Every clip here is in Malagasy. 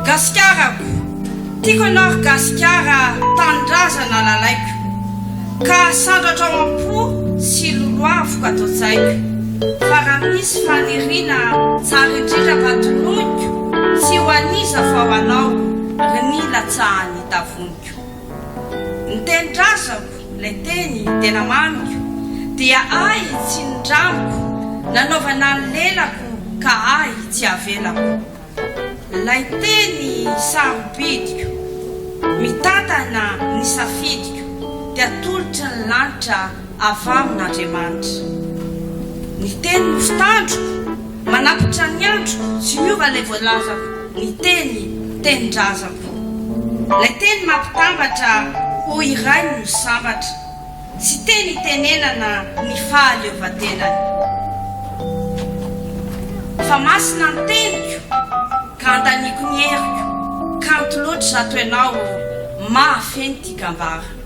Gasikarako, tiako anao ry Gasikara tanindrazana lalaiko ka sandratrao am-po sy lolohaviko ato an-tsaiko fa raha misy faniriana tsara indrindra mba toloiko tsy ho an'iza fa ho anao ry ny latsahan'ny tavoniko. Ny teny razako, ilay teny tena mamiko, dia ahy tsy nindramiko, nanaovana ny lelako ka ahy tsy avelako. Ilay teny sarobidyko, mitantana ny safidiko, dia atolotry ny lanitra avy amin' Andriamanitra. Ny Teny no fitandroko, manapatra ny androko, tsy miova ilay voalazako, ny Teny, Tenin-drazako. Ilay Teny mampitambatra, ô iray no sambatra, tsy teny itenenana ny fahaleovantenany. Fa masina ny teniko, ka andaniako ny heriko, kanto loatra zato ianao ô, mahafeno tia gambara.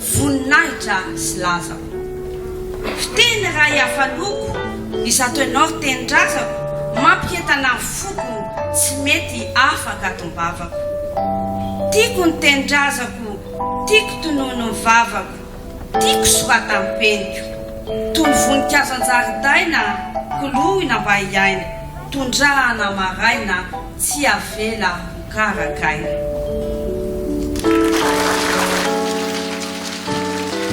Voninahitra sy laza o. Fiteny ray hafa loko izato ianao tenindrazako mampihentana ny foko tsy mety afaka ato am-bavako Tiako ny tenindrazako tiako tonony ny vavako tiako soratan'ny peniko Toy ny voninkazo an-jaridaina koloina mba hiaina tondrahana maraina Tsy avela ho karakaina.